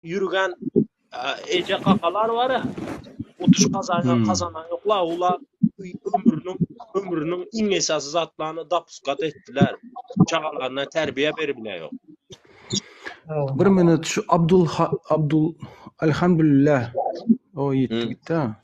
Ýürgen eje kakalar bar ya. Utuş kazanan kazanan yokla ola ömrünün ömrünün iň esasy zatlaryny dapuskat etdiler. Çagalaryna terbiye berip bile yok. Bir minut şu Abdul Abdul Elhamdülillah. O gitti gitti ha.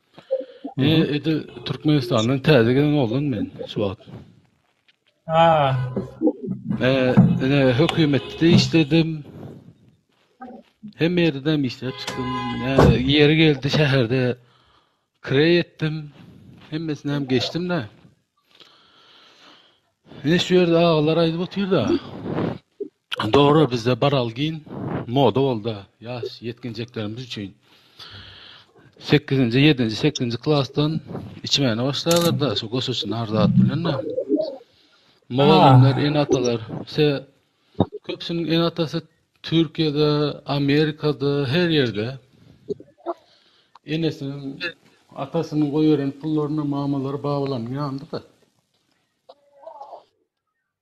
Eee, edi Türkmenistandan täze gelen oglan men şu wagt. Ha. Eee, ine hökümetde işledim. Hem ýerde işläp çykdym. Eee, ýeri geldi şäherde kireý etdim. Hemmesini hem geçdim-de. Ine şu ýerde agalar aýdyp otyrda. Dogry bizde baralgin moda bolda yaş yetkinjeklerimiz üçin. 8-nji, 7-nji, 8-nji klasdan içmäne başlaýarlar da şu goşuşy narzat bilen de. Mugallymlar, ah. enatalar, se köpsüniň enatasy Türkiýede, Amerikada, her ýerde. Enesiniň, atasynyň goýberen pullaryna mamalary, babalarynyň ýanynda da.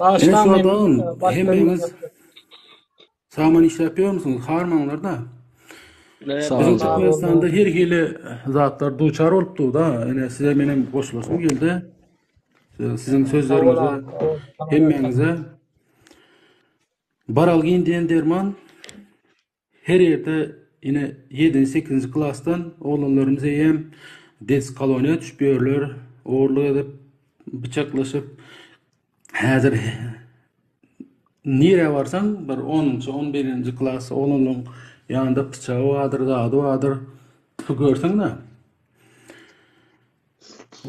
Başda men hemmeňiz Saman işläp ýörmüsiňiz? Harmaňlarda. Biziň Türkmenistanda her hili zatlar duçar bolup durda. Ene size menem goşulasym geldi. Siziň sözleriňize hemmeňize Baralgin diýen derman Her ýerde ine ýedinji sekizinji klasdan oglanlarymyz eýýäm des koloniýa düşüp ýörler ogurlyk edip bıçaklaşyp häzir nirä barsaň bir onunjy on birinji klas oglanlaryň ýanynda pyçagy bardyr zady bardyr tutup görseň da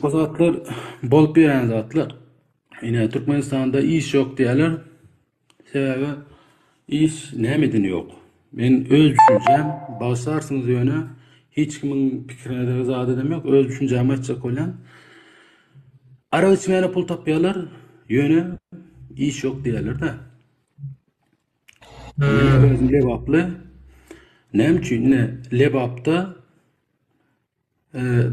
bu zatlar bolup ýören zatlar ine türkmenistanda iş ýok diýerler Sebäbi iş nämeden ýok. Men öz düşünjäm, bagşarsyňyz ýöne hiç kimiň pikirine zat edem ýok, öz düşünjämi aýtjak bolýan. Arak içmäne pul tapýarlar, ýöne iş ýok diýýärler-de. Özüm Lebaply. Näme üçin? Ine, Lebapda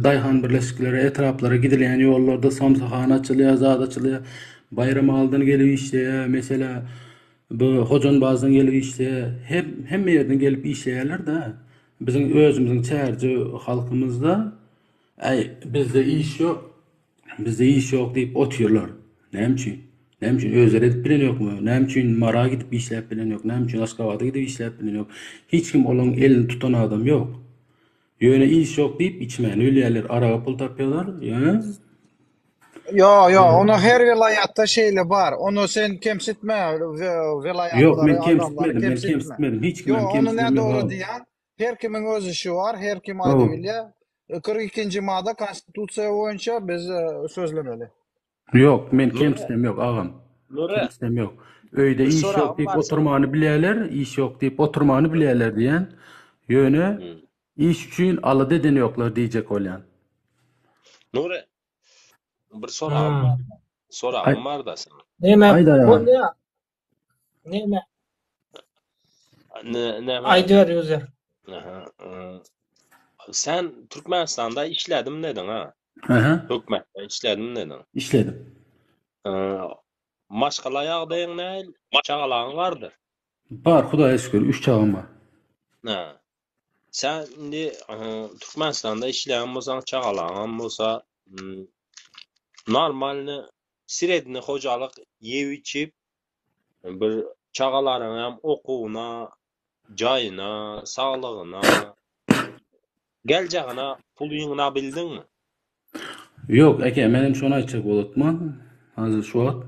daýhan birleşikleri, etraplara gidilýän ýollarda samsyhana açylýar, zat açylýar. Baýram aldan gelip işleýär. Mesela bu Hojanbazdan gelip işleýär. Hem hemme ýerden gelip işleýärler-de. Biziň özümiziň çärje halkymyzda äý bizde iş ýok, bizde iş ýok diýip otyrlar. Näme üçin? Näme üçin özleri edip bilen ýokmy? Näme üçin Mara gidip işläp bilen ýok? Näme üçin Aşgabada gidip işläp bilen ýok? Hiç kim olaň elini tutan adam ýok. Ýöne iş ýok diýip içmän ölýärler araga pul tapýalar ýöne. Ýo ýo ony her welaýatda şeýle bar ony sen kemsitme welaýatlary. Ýok men kemsitmedim men kemsitmedim hiç kim kemsitmedim. Ýo ony näme dogry diýýäň her kimiň öz işi bar her kim aýdyp bilýär. Kyrk ikinji mada konstitusiýa boýunça biz sözlemeli. Ýok, men Nure, kemsitem ýok, agam. Nure, Kemsitem ýok. Öýde bir iş ýok soragym diýip bar seniň. oturmany bilýärler, iş ýok diýip oturmany Nure. bilýärler diýýän. Ýöne Hmm. iş üçin alada edeni ýoklar diýjek bolýan. Nure, bir soragym Ha. bar. Soragym Aý, bar-da seniň. Näme? aýdaý agam. Bolýar. Näme? Näme? Aýdyber user. Aha. Sen Türkmenistanda işledim dedin ha? Aha. Hökmetde işledim dedin. İşledim. Maşgala ýagdaýyň näl? Çagalaň bardyr? Bar, Hudaýa şükür, üç çagam bar. Ha. Sen indi Türkmenistanda işleýän bolsaň, çagalaňam bolsa, normalny sredni hojalyk ýew-içip, bir çagalaryňam okuwyna, jaýyna, saglygyna, geljagina puly ýygnabildiňmi? Ýok eke menem şony aýtjak bolutma hazir şu wagt.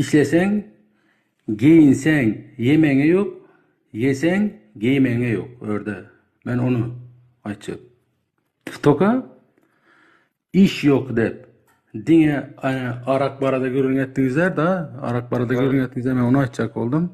Işleseň geýinseň ýemeňe ýok ýeseň geýmeňe ýok örde men ony aýtjak. Toka iş ýok dep diňe arak barada gürrüň etdiňizler da arak barada gürrüň etdiňizler men ony aýtjak boldum.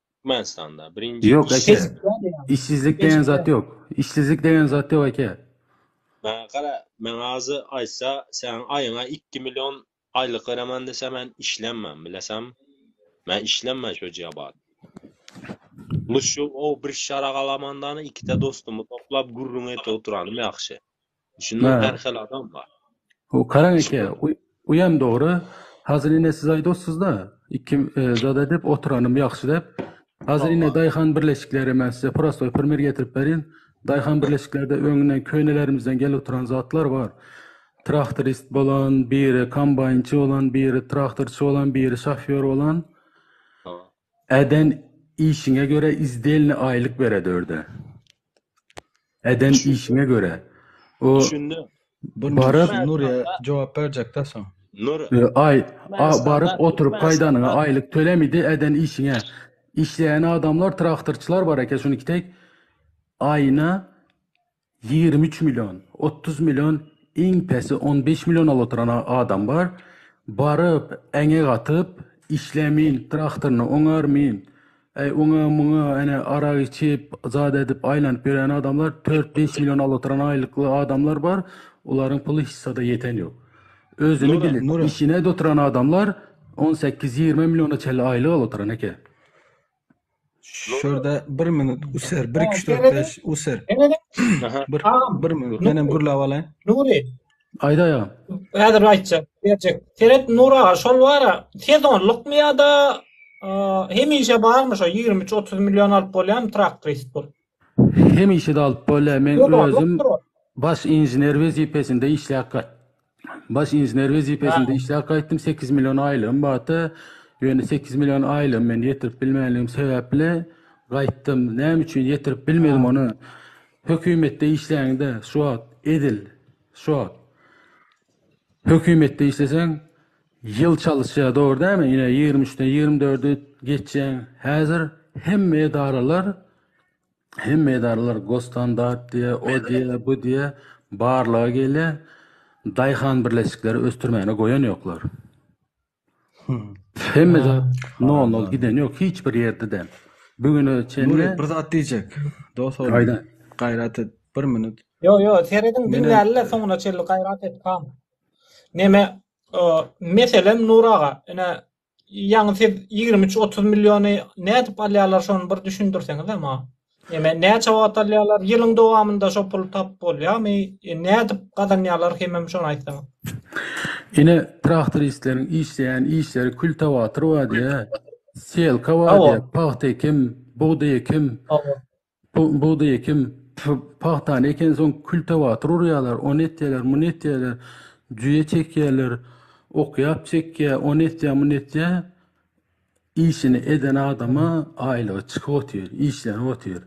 Türkmenistanda birinji Ýok eke. işsiz. Işsizlik degen zat ýok. Işsizlik degen zat ýok eke. Mä gara men azy aýtsa sen aýyňa ikki million aýlyk beremen dese men işlemmen bilesaňmy. Men işlemmen şojya bar. Luşşu ow bir şaragalamandany ikide dostumy toplap gürrüň et oturanym ýagşy. Düşünmek her hili adam bar. Bu karan eke uýam dogry. Hazir ine siz aýdossyzda iki zat edip otyranym ýagşy dep. Hazir ine daýhan birleşikleri men size prostoy primer getirip berin. Daýhan birleşiklerde öňünden könelerimizden gelip oturan zatlar bar. Traktorist bolan, biri kombaýnçy bolan, biri traktorçy bolan, biri şofýor bolan. Eden işiňe göre izdelni aýlyk bered örde. Eden işiňe göre. O Düşündim. Bu Baryp- Nur ya jogap berjekda soň. Nur Ö, Aý, a, baryp oturyp gaýdanyňa aýlyk tölemidi eden işiňe. Işleýän adamlar traktorçylar bar eken şuny kitek aýyna Ýigrimi üç million, otuz million, iň pesi on bäş million alyp oturan adam bar. Baryp, äňek atyp, işlämin, traktoryny oňarmin, äý, oňa-muňa, ene, arak içip, zat edip, aýlanyp ýörän adamlar, tört-bäş million alyp oturan aýlykly adamlar bar. Olaryň puly hissada ýeten ýok. Özüni bilip, işine-de oturan adamlar on sekiz, ýigrimi milliona çenli aýlyk alyp oturan eken. Şurada bir minut user, bir iki dört beş user. Bir, bir minut. Ben hem gürläp alaýyn. Nuri. Aýda ýa. Häzir aýtjak, berjek. Seret Nur aga, şol bara sezonlykmy ýa-da hemişe barmy şo 23-30 million alyp bolýarmy traktorist bolup? Hemişede alyp bolýar. Men özüm baş inžener wezipesinde işläp baş inžener wezipesinde işläp gaýtdym. Sekiz million aýlygym bardy. Ýöne sekiz million aýlygymy men ýetirip bilmänligim sebäpli gaýtdym. Näme üçin ýetirip bilmedim ony? Hökümetde işläňde şu wagt edil şu wagt hökümetde işleseň Ýyl çalyşýar, dogry dälmi? Ine, ýigrimi üçden ýigrimi dördi geçýän. Häzir hemme edaralar, hemme edaralar Gosstandart diýe, o diýe, bu diýe barlaga gelýär. Daýhan birleşikleri ösdürmäne goýan ýoklar. Hemme zat nol-nol giden ýok, hiç bir ýerde-de. Bugüne çenli... Nuri, bir zat diýjek. Dos oglum. Aýda. Gaýrat et, bir minut. Ýo, ýo, serediň, diňläliler soňuna çenli, gaýrat et, pam. Neme, Meselem Nur aga, ine, ýaňy siz ýigrimi üç, otuz milliony nädip alýarlar şony bir düşündirseňizä maňa. Eme näçe wagt alýarlar? Ýylyň dowamynda şo puly tapyp bolýarmy? E, nädip gazanýarlar hemem şony aýtsaňyz. Ine traktoristleriň işleýän işleri kültiwator bar diýä, selka bar diýä, pagta ekim, bugdaý ekim, Bugdaý ekim, pagtany ekensoň kültewator urýarlar, ony etýärler, muny etýärler, jüýe çekýärler, okýap çekýär, ony etýär, muny etýär. Işini eden adama aýlygy çykyp otyr, işlenip otyr.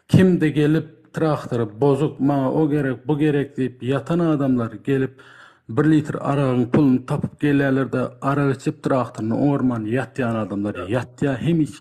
Kimde gelip traktory bozuk, maňa o gerek, bu gerek diýip ýatan adamlar gelip bir litr aragyň puluny tapyp gelýärler-de, arak içip traktoryny oňarman ýatýan adamlar ýatýar, hemişe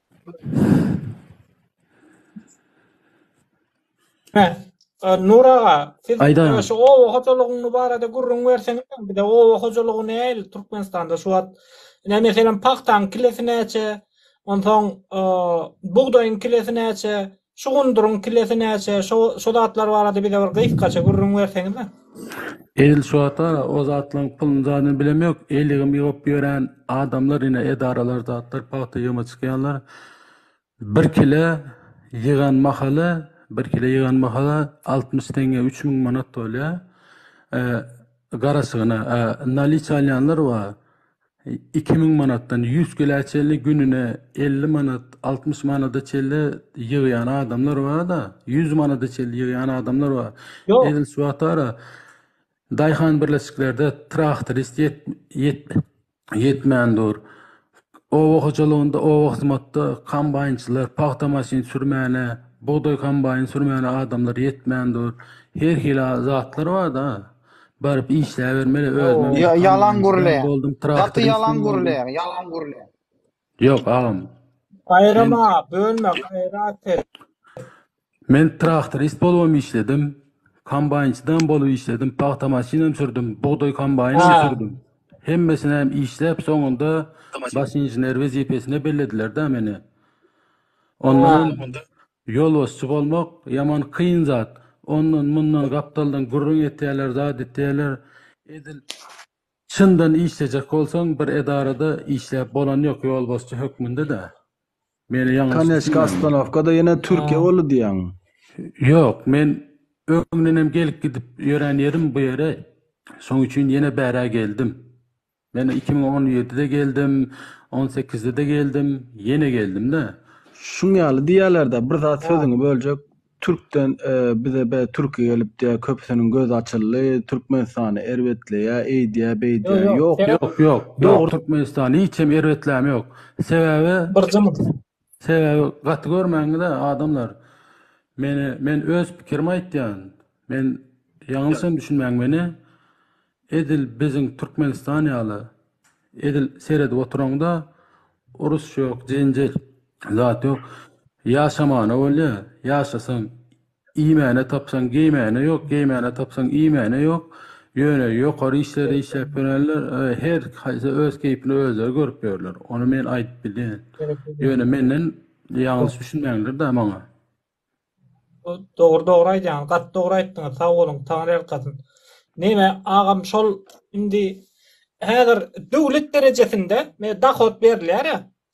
Nur aga, siz şu oba hojalygyny barada gürrüň berseňiz, bize oba hojalygy nähili Türkmenistanda şu wagt? Ine, meselem, pagtaň kilesi näçe? Onsoň, bugdaýyň kilesi näçe? Şu gunduryň kilesi näçe, şo şo zatlar barada bize bir gysgaça gürrüň berseňizä. Edil şu wagta o zatlaryň puluny zadyny bilem ýok, eýlegem ýygyp ýören adamlar ine edaralar zatlar pagta ýygyma çykýanlar bir kile ýygan mahaly bir kile ýygan mahala altmyş teňňe üç müň manat bolýa garaşygyna naliç alýanlar bar iki müň manatdan ýüz kilä çenli gününe elli manat, altmyş manada çenli ýygýan adamlar bar-da, ýüz manada çenli ýygýan adamlar bar. Ýok. Edil şu wagtara daýhan birleşiklerde traktorist ýet, ýet, ýetmän dur. Oba hojalygynda, oba hyzmatda kombaýnçylar, pagta maşyn sürmäne, bugdaý kombaýny sürmäne adamlar ýetmän dur. Her hili zatlar bar-da. Baryp işläbermeli özümem Ya- ýalan kanundan çykan gürleýär. boldum Gaty traktoryň ýalan üstüni boldum. gürleýär, ýalan gürleýär. Ýok agam Gaýrama, bölme, gaýrat et. men traktorist bolubam işledim. Kombaýnçydam bolup işledim. Pagta maşynam sürdüm. Bugdaý kombaýnam Ha. sürdüm. Hemmesini hem işläp soňunda baş inžener wezipesine bellediler-de meni. Ondan Ha. Ýolbaşçy bolmak ýaman kyn zat, ondan mundan gapdaldan gürrüň etýärler zat etýärler, edil çyndan işlejek bolsaň bir edarada işläp bolany ýok ýolbaşçy hökmünde-de, meni ýalňyş Koneçki ostanowkada ýene türkiýe boldy diýýäň. Ýok, men öňdenem gelip gidip ýörän ýerim bu ýere, şoň üçin ýene bärä geldim. Men iki müň on ýedide geldim, on sekizde-de geldim, ýene geldim-de. Şuň ýaly diýýäler-dä, bir zat sözüňi böljek, türkden bize bä türki gelipdi, köpüsiniň gözi açyldy, Türkmenistany erbetleýär, eýdýär, beýdýär. Ýok, ýok, ýok, dogry Türkmenistan hiç hem erbetläme ýok. Sebäbi, Sebäbi gaty görmäňizä adamlar meni men öz pikirimi aýtýan men ýalňyşam düşünmäň meni edil biziň Türkmenistan ýaly edil seredip oturaňda urus ýok jenjel zat ýok ýaşamana bolýa ýaşasaň Iýmäne tapsaň geýmäne ýok, geýmäne tapsaň iýmäne ýok. Ýöne ýokary işlerde işläp ýörenler her haýsy öz keýpini özleri görüp ýörler. Ony men aýdyp bilýän. Ýöne menden ýalňyş düşünmäňiler-dä maňa. Dogry dogry aýdýaňyz gaty dogry aýtdyňyz sag boluň taňryýalkasyn. Neme agam şol indi häzir döwlet derejesinde dohod berilýär-ä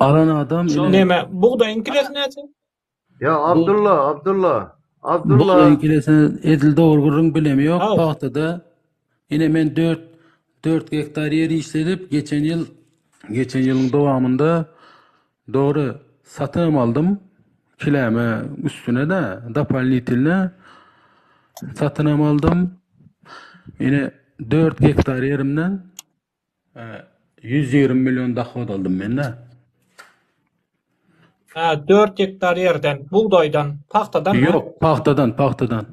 Alan adam Şol ine näme? Bugdaýyň kilesi näçe? Ýa Abdylla, Abdylla, Abdylla. bugdaýyň kilesi edil dogry gürrüň bilemi ýok. Hau. Pagtada ine men dört dört gektar ýer işledip, geçen ýyl geçen ýylyň dowamynda Dogry, satam aldym, kiläme üstüne-de dopalnitilne satynam aldym. Ine dört gektar ýerimden e, ýüz ýigrimi million dohod aldym men-de. Hä, dört gektar ýerden, bugdaýdan, pagtadan. Ýok, pagtadan, pagtadan.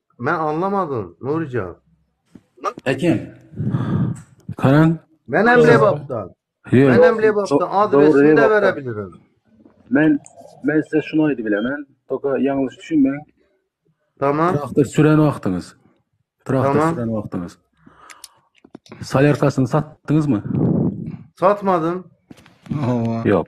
Men anlamadym Nurijan. Ekem. Karan. Men hem Lebapda. Men hem Lebapda adresini de berebilirim. Men men size şunu aýdyp bilemen. Toka ýalňyş düşünme. Tamam. Traktor süren wagtyňyz. Traktor tamam. süren wagtyňyz. Salerkasyny satdyňyzmy? Satmadım. Ýok.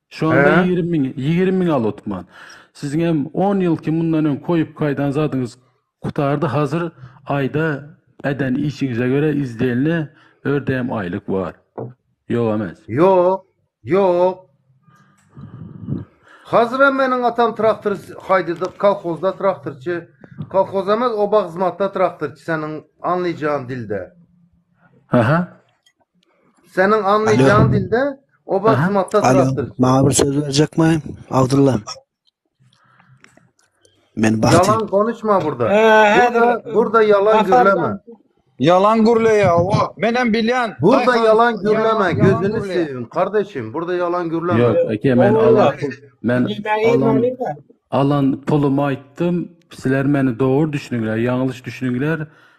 Şu anda He? ýigrimi müň, ýigrimi müň al otman. Siziň hem on ýylky mundan öň koýup gaýdan zadyňyz gutardy, hazir aýda eden işiňize görä izdielne ördeýem aýlyk bar. Ýok emes. Ýok, ýok. Hazirem meniň atam traktor haýdyjy, kolhozda traktorçy. Kolhoz emes, oba hyzmatda traktorçy seniň anlyjaň dilde. Aha. Seniň anlaýjaň dilde oba hyzmatda durapdyr. Maňa bir söz berjekmi? Abdulla. Men bahti. Yalan konuşma burada. Burada, burada yalan gürleme. Yalan gürle ya o. Men hem bilyan. Burada yalan gürleme. Gözünü seveyim kardeşim. Burada yalan gürleme. Yok, eke men alan men alan alan pulumu aýtdym. Sizler meni dogry düşünüňler, ýalňyş düşünüňler.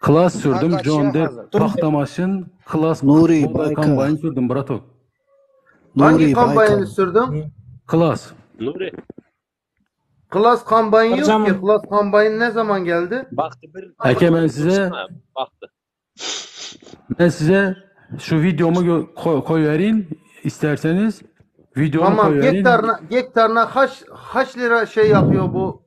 Klas sürdüm John Depp pahta maşyn klas Nury Baýka kombaýn sürdüm bratok. Nury Baýka sürdüm. Klas. Nury. Klas kombaýn ýok ki, klas kombaýn ne zaman geldi? Bagty bir. Eke men size bagty. Men size şu videomu koy verin isterseniz. Videomu koy verin. Tamam gektarna gektarna haş haş lira şey yapıyor bu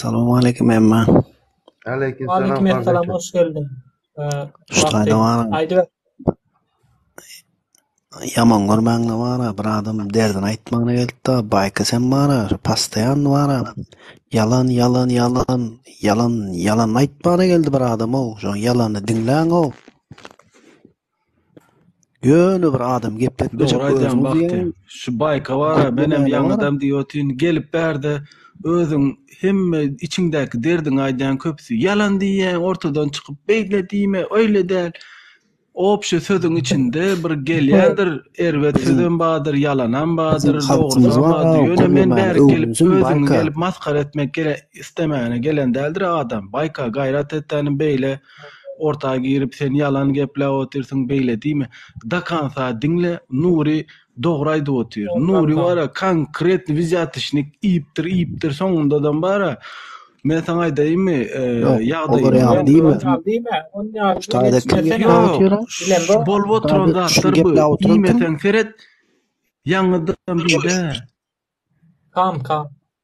Salam aleýkum Emma. Aleýkum salam Aleýkum esselam, Fazlyja. hoş geldiň. Eee, Şu wagty taýda baryň. aýdyber. Ýaman görmäňde bara bir adam derdini aýtmagyna gelipdi. Baýka sen bara şu pastaýan bara. Ýalan ýalan ýalan ýalan ýalan aýtmagyna geldi bir adam ow. Şoň ýalany diňläň ow. Ýöne bir adam gepletmejek özüňiz. Dogry aýdýaň Bagty. Şu baýka bar-a, menem ýaňydam diýip otyryn, gelip bärde özüň hemme içiňdäki derdiňi aýdýaň köpüsi. Ýalan diýýäň ortadan çykyp, beýle diýme, öýle däl. Obşe sözüň içinde bir gelýändir, erbet sözem bardyr, ýalanam bardyr, dogrusam bardyr. Ýöne men bärik gelip özüňi gelip masgara etmek islemäne gelen däldir-a adam. Baýka gaýrat etdänim beýle. orta girip sen ýalan gepläp otyrsyň beýle diýme da kansa diňle Nury dogry aýdyp otyr Nury bara konkret wizýatişnik iýipdir iýipdir soňundadam bara Men saňa aýdaýynmy, e, ýagdaýy Olar diýme. Diýme, onda şutada kim ýatyr? Bolup oturan zatlar bu. Diýmeseň seret. Ýaňydan bir-de. Kam, kam.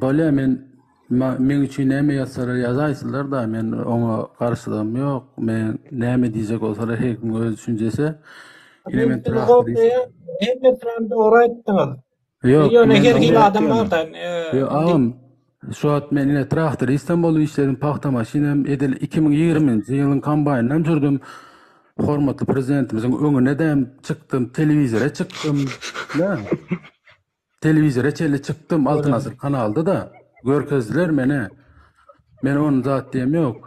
Bolýa men meň üçin näme ýazsalar ýazaýsynlar-da men oňa garşylygym ýok. Men näme diýjek bolsalar her kim öz düşünjesi. Ine men Hemmesinem dogry aýtdyňyz. Ýok, ýöne her hili adam bar-da. Ýok, agam, şu wagt men ine traktoristem bolup işledim, pagta maşynym, edil 2020-nji ýylyň kombaýnynam sürdüm. Hormatly Prezidentimiziň öňüne-de çykdym, telewizora çykdym. Telewizora çenli çykdym Altyn Asyr kanalda-da görkezdiler meni. Men ony zat diýem ýok.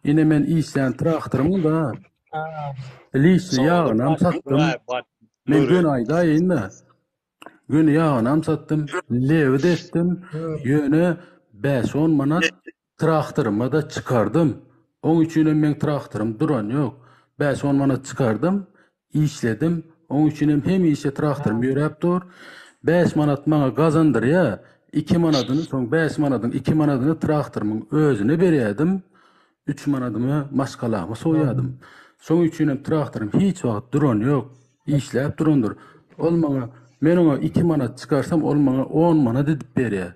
Ine men işlän traktorymy-da Liçni ýagynam satdym. Men göni aýdaýyn-da. Göni ýagynam satdym. Lewi-de etdim. Ýöne bäş-on manat Traktoryma-da çykardym. Oň üçinem meň traktorym duran ýok. Bäş-on manat çykardym, işledim. Oň üçinem hemişe traktorym ýöräp dur. Bäş manat maňa gazandyrýar. Iki manadyny, soň bäş manadyň iki manadyny traktorymyň özüne berýärdim. Üç manadymy maşgalama soýýardym. Şoň üçinem traktorym hiç wagt duran ýok. Işläp durandyr. Ol maňa, men oňa iki manat çykarsam, ol maňa on manat edip berýär.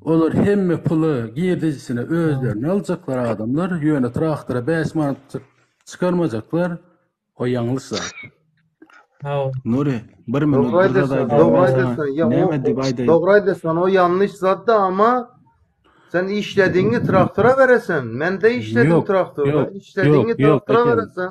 Olar hemme puly girdejisine özlerine aljaklar adamlar, ýöne traktora bäş manatjyk çykarmajaklar. O ýalňyş zat. Nury, bir minut Dogry bir zat aýdasyn, aýdaýyn dogry men aýdasyn. saňa. Ýa o- Näme diýip aýdaýyn? Dogry aýdasyn, o ýalňyş zat da, amma sen işledigiňi traktora beresen, men-de işledim Ýok, traktorda, ýok, işledigiňi ýok, ýok, traktora eşedim. beresen,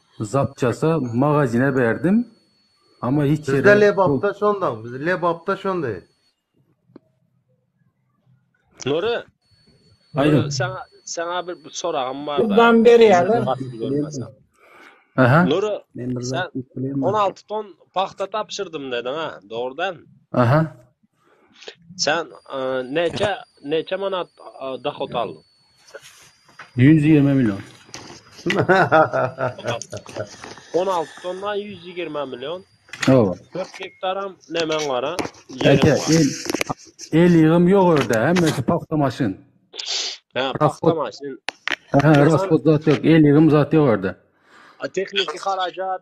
Zapçasa magazine berdim ama hiç yere Bizde lebapda şondan, biz lebapda şondy. Nuri. Aýdyň. Sana sana bir soragym bar. Gurban berýärler. Aha. Nuri. Sen 16 ton pahta tapşyrdym dedin ha, dogrudan. Aha. Sen neçe neçe manat dohod aldyň? 120 million. 16 tonna 120 million. Hawa. 4 gektaram nemen gara? Ýeriň bar. El ýygym ýok ýerde, hemmesi pagta maşyn. Ha, pagta maşyn. Ha, raspod zat ýok, el ýygym zat ýok ýerde. Tehniki harajat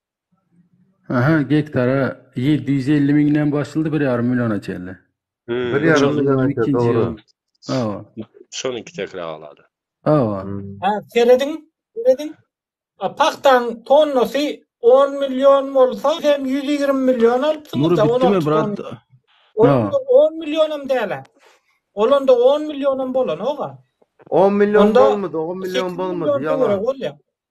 Aha, gektara ýedi ýüz elli müňden başlady bir ýarym milliona çenli. Bir ýarym million ikinji ýyl. Hawa. Şol iki tekra galady. Hawa. Ha, serediň, serediň. Pagtaň tonnasy on million bolsa, sen ýüz ýigrimi million alypsyňyz-da. Mury bitdimi, brat? Onda on millionam däl-ä. Ol onda on millionam bolanok-a. On million bolmady, on million bolmady, ýalan.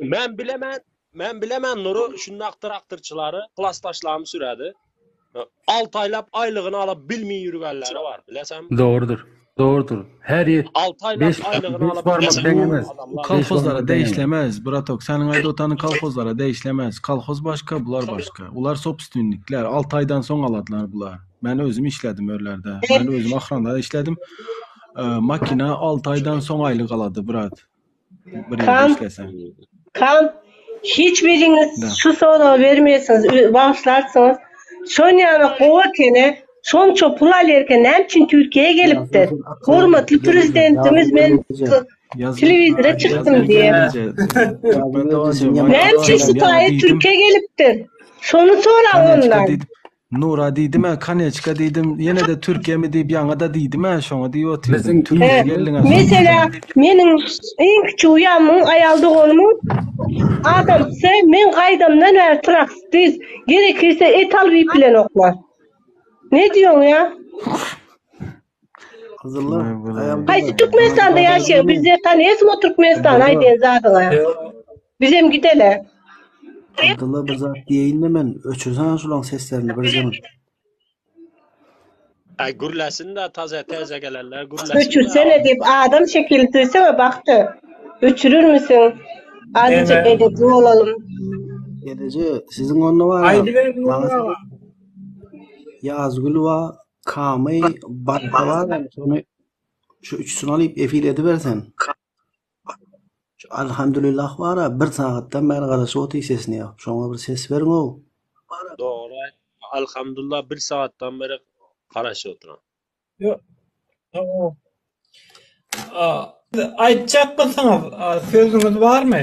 Men bilemen, men bilemen Nury şundak traktorçylary klasdaşlarym sürädi. Ö, Alty aýlap aýlygyny ala bilmeýin ýürgenleri bar, bilesäňmi? Dogrudyr. Dogrudyr. Her ýet Alty aýlap beş aýlygyny beş ala barmak bilmeýin deň ýürgen emes. Bu adamlar. Beş kolhozlara barmak deň emes. degişlemez, bratok. Seniň aýdyp otanyň kolhozlara degişlemez. Kolhoz başga, bular başga. Bular sobstwinnikler. Alty aýdan soň aladlar bular. Men özüm işledim örlerde. Men özüm ahranlar işledim. Ö, Makina alty aýdan soň aýlyk alady, brat. Kan hiç biriňiz şu soragy bermeýärsiňiz, bagyşlarsyňyz. Sonýana gowy ekeni, şonça pul alýarka näme üçin Türkiýä gelipdir? Hormatly Prezidentimiz men telewizora çykdym diýip. Näme üçin şu taýy Türkiýä gelipdir? Şony soraň ondan. Nura diýdim-ä, Koneçka diýdim, ýene-de Türkiýemi diýip ýaňa-da diýdim-ä, şoňa diýip otyrdym. Türkiýä geldiň-ä şoň Meselä, meniň iň kiçi uýamyň aýal doganymyň adamsy men gaýdamdan bäri traktiz, gerekirse etal bilen oklar. Ne diýoň-ýa? Gyzyllar. Güle güle. Aýal Haýsy gyzlar. Türkmenistanda ýaşaýaň? Bizde tanýasmy o Türkmenistany aýdan zadyňa? Bizem gidele. Abdylla bir zat diýeýinde men öçürsaňa şulaň seslerini birjigim. Aý gürläsinda taze teze gelenler gürläsin. Öçürsene diýip adam şekili düzsene Bagty. Öçürürmisiň? Azajyk edepli bolalym. Edeje siziň onda bar. Aýdyber Nurgül aga. Ýazgül bar. Kamy bat balan şony şu üçsüni alyp efir edibersen. Şu Alhamdulillah bara bir sagatdan bäri garaşyp otyr sesine ýok. Şoňa bir ses beriňow. Dogry. Alhamdulillah bir sagatdan bäri garaşyp otyran. Ýok. Aýtjak bolsaňyz sözüňiz barmy?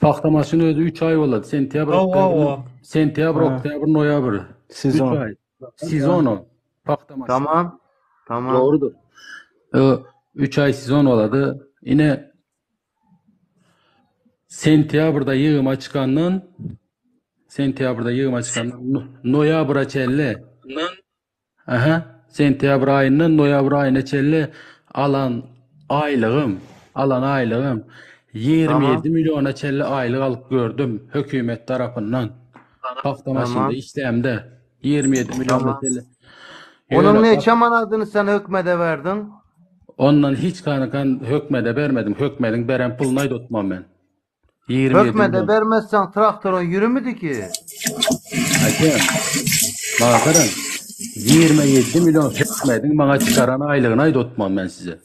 Pagta maşyny özi 3 aý bolady. Sentýabr, Hawa, oktýabr, hawa. sentýabr, Ha. oktýabr, noýabr. 3 Sezon. aý. Sezon o. Pagta maşyny. Tamam. Tamam. Dogrudyr. Ö, Üç ay sezon bolady. Ine sentýabrda ýygyma çykandan sentýabrda ýygyma çykandan no- noýabra çenli Aha, sentýabr aýyndan noýabr aýyna çenli alan aýlygym, alan aýlygym ýigrimi Tamam. ýedi milliona çenli aýlyk alyp gördüm hökümet tarapyndan. Pagta maşynda Tamam. işlämde ýigrimi ýedi milliona Tamam. çenli. Onuň Ýöne pag- neçe manadyny sen hökmede berdiň? ondan hiç kanakan hökmede bermedim. Hökmediň beren puluny aýdatmam men. Hökmede bermezseň traktora ýürümidiki. Ake, maňa garaň, ýigrimi ýedi million hökmediň maňa çykaran aýlygyny aýdatman men size.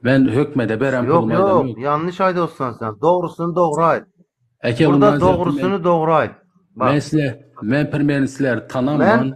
Men hökmede beren pulumy aýdamok. Ýok, ýok, ýalňyş aýdatsan sen, dogrusyny dogry aýt. Ake, Burda dogrusyny dogry aýt. Men size, men premýerni sizler tanamman.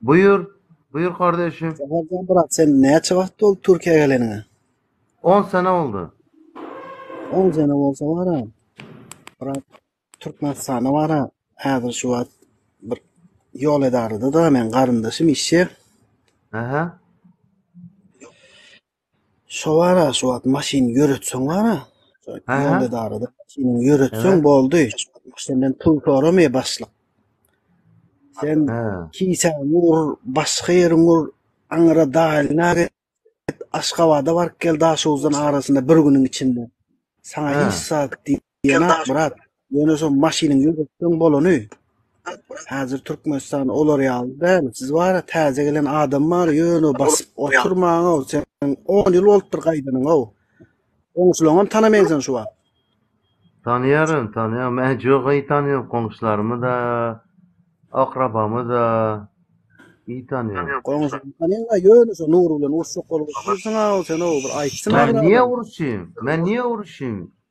Buyur, buyur kardeşim. Saparjan brat sen näçe wagt boldy Türkiýä geleniňe? On sene oldu. On sene bolsa bara brat Türkmenistana bara häzir şu wagt bir ýol edarada da men garyndaşym işçi. Aha. Şo wara şu wagt maşyn ýöretseň wara, ýolda darada maşynyňy ýöretseň boldy. Senden pul soramaýar başlyk. Sen kisäňi ur, başga ýeriňi ur, aňyra daýylyna git, Aşgabada baryp gel Daşoguzdan arasynda bir günüň içinde. Saňa hiç zat diýmez. Jenap brat, ýöne şo maşynyň ýürekden bolany. Häzir Türkmenistan olar ýaly däl, siz bara täze gelen adam bar, ýöne basyp oturmaň-ow, sen on ýyl bolupdyr gaýdanyňow. Goňşulaňam tanamaýaň sen şu wagt. Tanaýaryn, tanaýaryn, men jogaýy tanaýaryn, goňşularmy-da, akrabamy-da, iyi tanaýaryn. Goňşulaňy tanaýaň-a, ýöne şu Nury bilen uruşjak bolup otyrsyň-ow sen-ow, bir aýtsyn-a birader. Men niýe uruşyň, men niýe uruşyň,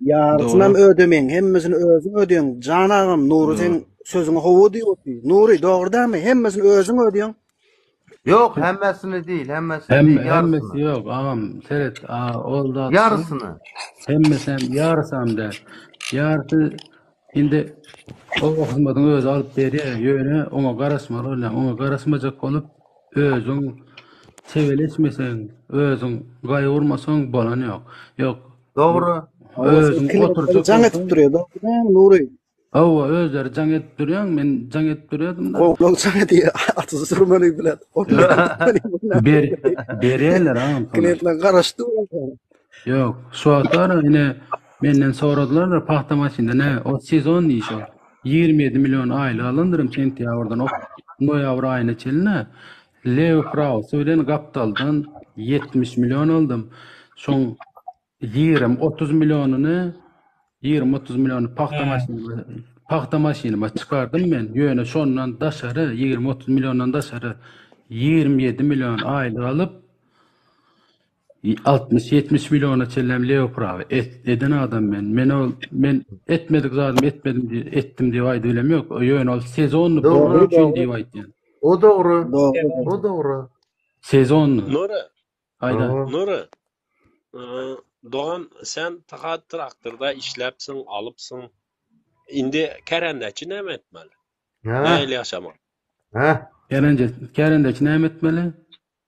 Ýarysyny Dogry. hem ödemeýin, hemmesini özüň ödeýäň. Jan agam, Nury sen Dogry. sözüňe howa diýip otdy. Nury, dogry dälmi? Hemmesini özüň ödeýäň. Yok hemmesini değil hemmesini Hem, değil hemmesi yarısını. yok ağam seret a, ol da atsın. Yarısını. Hemmesi hem yarısı hem de. Yarısı Indi o hyzmatyň özi alyp berýär, ýöne oňa garaşmaly bolýar. Oňa garaşmajak bolup, özüň sebeleşmeseň, özüň gaýgurmasaň bolany ýok. Ýok. Dogry. Özüň oturjak. Jaň edip durýar, dogry, Nury. Hawa, özleri jaň edip durýar, men jaň edip durýardym. Gowlak jaň edýär, atyzy sürmeli bilen. Ber, berýärler agam. Klientler garaşdy. Yok, şu wagtlar ine menden soradylar pahta maşynda ne? O sezon işi. 27 milyon aylyk alandyrym sentýabrdan o noýabr aýyna çenli. Leo Kraus bilen gapdaldan 70 milyon aldym. Şoň 20-30 milyonyny 20-30 milyony pahta He. maşynyma pahta maşynyma çykardym men. Ýöne şondan daşary 20-30 milyondan daşary 27 milyon aýlyk alyp 60-70 milliona çenlem lew prawy et eden adam men. Men ol men etmedik zadymy etmedim diye etdim diye aýdyp bilem ýok. Ýöne ol sezonny bolmak üçin diye aýdýan. O dogry. O dogry. Sezonny. Nora. Aýda. Nora. Dogan sen tahat traktorda işläpsiň, alypsyň. Indi kärendäçi näme etmeli? Näle ýaşamak? Ha? Kärendäçi, kärendäçi näme etmeli?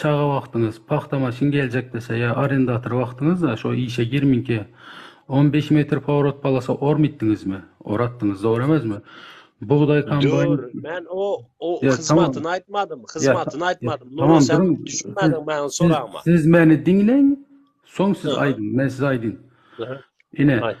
Çaga wagtyňyz, pagta maşyn geljek dese ýa arendator wagtyňyzda şo işe girmiňki on beş metr powrot polasa ormytdiňizmi? Oratdyňyz dogry emezmi? Bugdaý kombaýn Dur, men o o Ýa, tamam. hyzmatyny aýtmadym, Ýa, ta- hyzmatyny ýa, aýtmadym. Nuro tamam, sen duruň. düşünmädiň Siz- meniň siz- soragma. Siz meni diňleň, soň siz Aha. aýdyň, men size aýdyn. Aha. Ine, Aýt.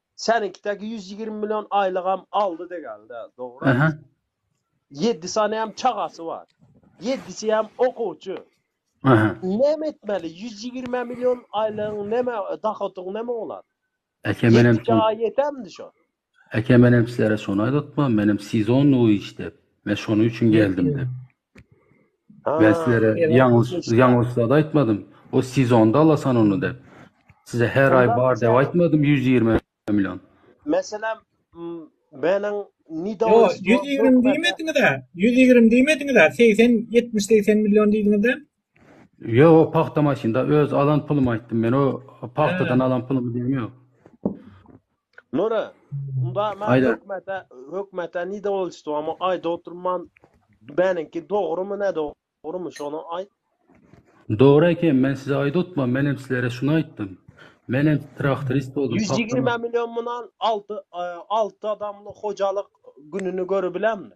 Seniňkidäki ýüz ýigrimi million aýlygam aldy degäldä, dogry aýt. Ýedi saneem çagasy bar. Ýedisem okuwçy. Näme etmeli? Ýüz ýigrimi million aýlygyň näme, dohodyň näme bolar? Ýedi çaga ýetermidi şo? Eke, menem sizlere şony aýdatma, menem sezonnyý iş dep, men şonuň üçin geldim dep. Men sizlere ýalňyş zat aýtmadym. O sezonda alasan ony dep. Size her aý bar dep aýtmadym ýüz ýigrimi million. Meselem, meniň Nidauris. Ýok, ýüz ýigrimi diýmediňiz-ä. Ýüz ýigrimi diýmediňiz-ä. Segsen, ýetmiş-segsen million diýdiňiz-dä. Ýok, pagta maşynda öz alan pulumy aýtdym. Men o pagtadan alan pulumy diýen ýok. Nure, unda men hökmete, hökmete nide boluşdy, ama aýda oturman, meniňki dogrumy, ne dogrumy, şony aýt. Dogry eken, men size aýda otman, men hem sizlere şuny aýtdym. Men hem traktorist boldum. Ýüz ýigrimi million munan alty, alty adamly hojalyk gününi görebilemmi?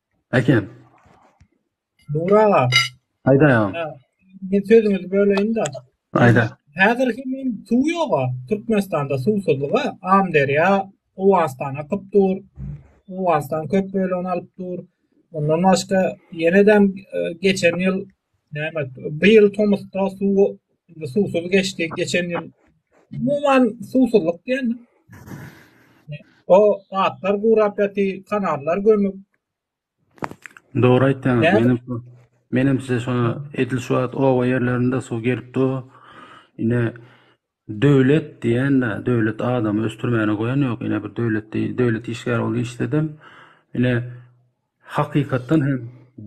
Äken. Nur aga. Aýda ýa. Men sözüňizi böleýin-de. Aýda. Häzir hem suw ýoga. Türkmenistanda suwsuzlyga Amderýa Owganystan akyp dur. Owganystan köp bölegini alyp dur. Ondan başga ýene-de geçen ýyl Bu ýyl tomusda suw suwsuz geçdi. Geçen ýyl umuman suwsuzlyk diýen. O atlar gurap ýaty, kanallar gömük. Dogry aýtdyň. Menem menem size şo edil şu wagt oba ýerlerinde suw gelip dur. Ine Döwlet diýende döwlet adamy ösdürmäne goýan ýok ine bir döwlet diý döwlet işgäri bolup işledem ine hakykatdan hem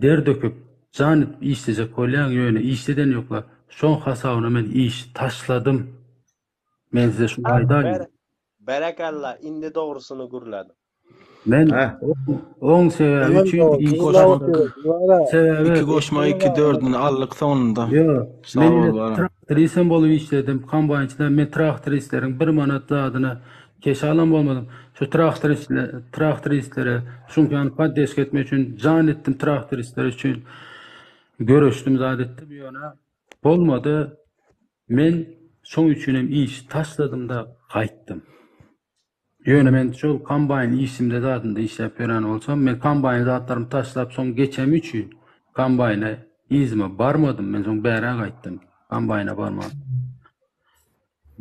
der döküp jan edip işlejek bolýaň ýöne işleden ýokla şoň hasabyna men işi taşladym men size şuny aýdaýyn. Berekella indi dogrusyny gürlädiň. Men oň sebäbi üçin iki goşmak. Sebäbi iki goşmak iki dördüni aldyk soňunda. Men traktrisem bolup işledim. Kombaýnçyda men traktoristleriň 1 manat zadyna keş alan bolmadym. Şu traktoristler, traktoristlere çünki ýany poddeşka etmek üçin jan etdim traktoristler üçin. Göreşdim zat etdim ýöne bolmady. Men şoň üçin hem işi taşladym-da gaýtdym. Ýöne men şol kombaýn işimde zadynda işläp ýören bolsam, men kombaýn zatlarymy taşlap, soň geçemi üçin kombaýna yzyma barmadym. Men soň bärä gaýtdym. Kombaýna barman.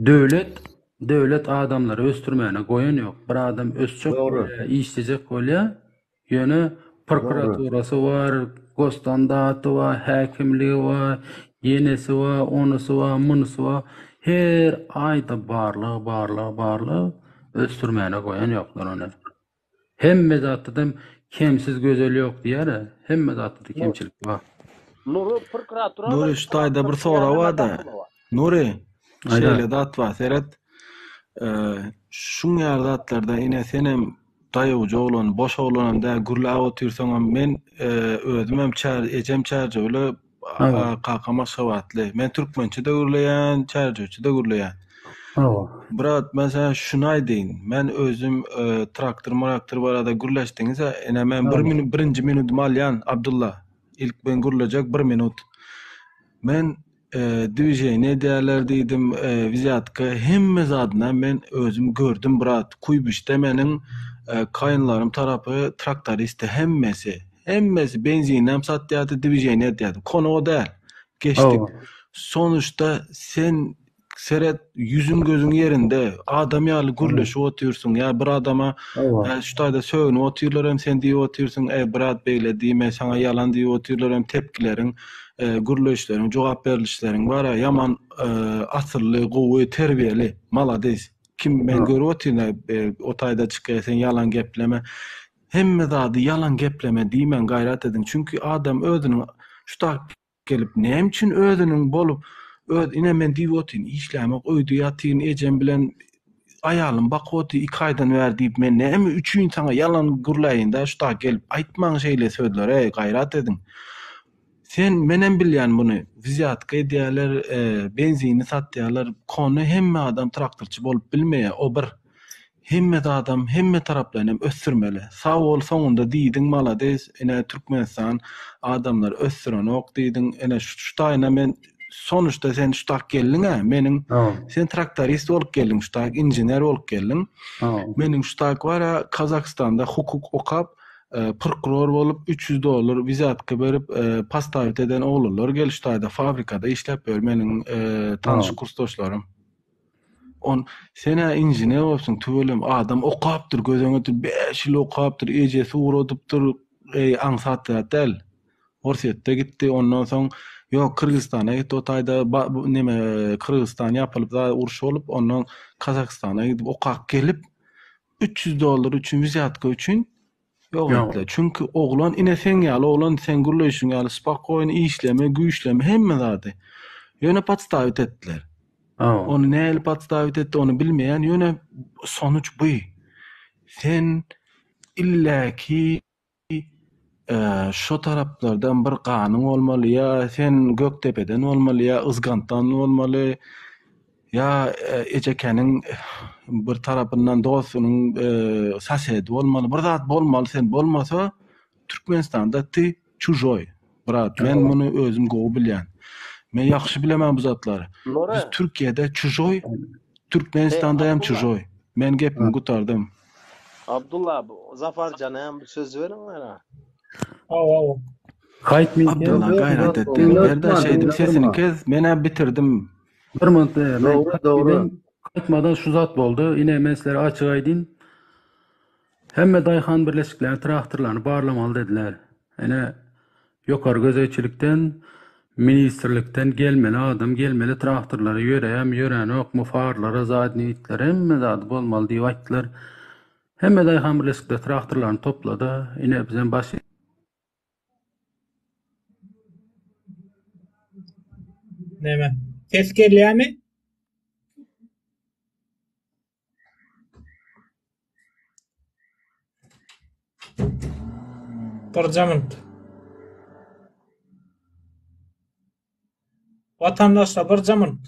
Döwlet, döwlet adamlary ösdürmäne goýan ýok. Bir adam ösjek, işlejek bolýar. Ýöne prokuraturasy bar, gosstandaty bar, häkimligi bar, ýenesi bar, onusy bar, munusy bar. Her aýda barlag, barlag, barlag. Ösdürmäne goýan ýoklar ony. Hemme zatdam kemsiz gözel ýok diýýär-ä. Hemme zatda kemçilik bar. Nury prokuratura Nury şu taýda bir sorag bar-da. Nury, şeýle zat bar, seret. Şuň ýaly zatlarda ine sen hem Daýawja oglan, boş oglanam däl, gürläp otyrsaňam, men özümem çär, ejem Çärjewli, kakam Aşgabatly. Men türkmençe-de gürleýän, çärjewçe-de gürleýän. Hawa. Brat, men saňa şuny aýdaýyn, men özüm traktor-mraktor barada gürleşdiňiz-ä, ine, men bir minut, birinji minutymy alýan, Abdylla, ilk men gürlejek bir minut. Men Dwiženiýe edýärler diýdim, wzýatka hemme zadynam men özüm gördüm brat, Kuýbişde meniň kaýynlarym tarapy traktoristdi hemmesi, hemmesi benzininem satýardy, dwiženiýe edýärdi, konoga däl, geçdik. Sonuçda sen seret ýüzüň gözüň ýerinde, adam ýaly gürleşip otyrsyň, ýa bir adama şu taýda sögünip otyrlar hem sen diýip otyrsyň, e brat beýle diýme, saňa ýalan diýip otyrlar hem tepkileriň, gürleýişleriň jogap berlişleriň bar a ýaman asylly gowy terbiýeli malades kim men görüp otyryn a o taýda çykyä sen ýalan gepleme hemme zady ýalan gepleme diýmäň gaýrat ediň çünki adam özüniň şu tak gelip näme üçin özüniň bolup öz ine men diýip otyryn işlämok öýde ýatyryn ejem bilen Aýalym Bakoty iki aýdan bäri diýip men näme üçin saňa ýalan gürläýindä şu dag gelip aýtmaň şeýle sözleri gaýrat ediň. Sen menem bilýän muny wzýatka edýäler benzini satýalar kone hemme adam traktorçy bolup bilmeýä o bir hemme zadam hemme taraplaýyn hem ösdürmeli. Sag bol soňunda diýdiň malades ine Türkmenistan adamlar ösdürenok diýdiň ine şu şu taýyna men sonuçta sen şu tak geldiň ha meniň sen traktorist bolup geldiň şu tak injener bolup geldiň meniň şu tak bar ha kazakstanda hukuk okap e, prokuror bolup 300 dollar vizatka berip e, postavit eden oglanlar gel şu taýda fabrikada işläp ýör meniň e, tanyş kursdaşlarym on sen ha injener bolupsyň tüwelem adam okapdyr göz öňünde 5 ýyl okapdyr ejesi ugradypdyr eý aňsat zat däl Orsýetde gitdi ondan soň ýok Kyrgyzystana gitdi o taýda neme Kyrgyzystan ýapylyp zaýa uruş bolup ondan Kazakystana gidip okap gelip üç ýüz dollar üçin wizýatka üçin ýok etdiler. Çünki oglan ine seň ýaly oglan sen gürleýşiň ýaly spakoýn işleme güýçleme hemme zady ýöne podstawit etdiler. Ony näli podstawit etdi ony bilmeýän ýöne sonuç bu. Sen illaki Ýa şo taraplardan bir ganyň bolmaly, ýa sen Gökdepeden bolmaly, ýa Yzgantdan bolmaly, ýa Ejekeniň bir tarapyndan dostunyň sasedi bolmaly, bir zat bolmaly sen, bolmasa Türkmenistanda ty çužoý, Brat, men muny özüm gowy bilýän. Men ýagşy bilemen bu zatlary. Biz Türkiýede çujoý, Türkmenistanda hem çujoý. Men gepimi gutardym. Abdulla, Zafar jana hem bir söz beriň gara. Hawa. Haýt men. Abdulla gaýrat et. Berda şeýdip sesini kes, men hem bitirdim. Bir minut. Dogry, dogry. Gaýtmadan şu zat boldy. Ine men sizlere açyk aýdyn. Hemme daýhan birleşikleri traktorlaryny barlamaly dediler. Ene, ýokary gözegçilikden, ministrlikden gelmeli adam gelmeli traktorlara ýöreýämi, ýöränokmy, farlara, zadnyý itlere hemme zady bolmaly diýip aýtdylar. Hemme daýhan birleşikleri traktorlaryny toplady. Ine, bizem baş Näme? Ses gelýämi? Birjamynt. Watandaşlar birjamynt.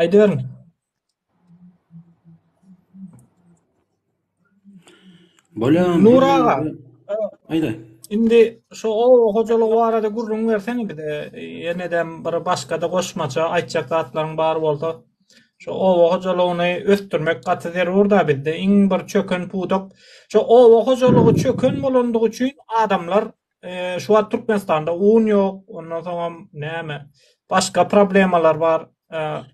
Aýdyberiň. Bolýan. Nur aga. Aýda. Indi şu oba hojalygy barada gürrüň berseň bize. Ýenedem bir başga-da goşmaça aýtjak zatlaryň bar bolsa. Şu oba hojalygyny ösdürmek gaty zerur-da bizde. Iň bir çöken pudak. Şu oba hojalygy çöken bolandygy üçin adamlar Şu wagt Türkmenistanda un ýok, ondan soňam näme, başga problemalar bar.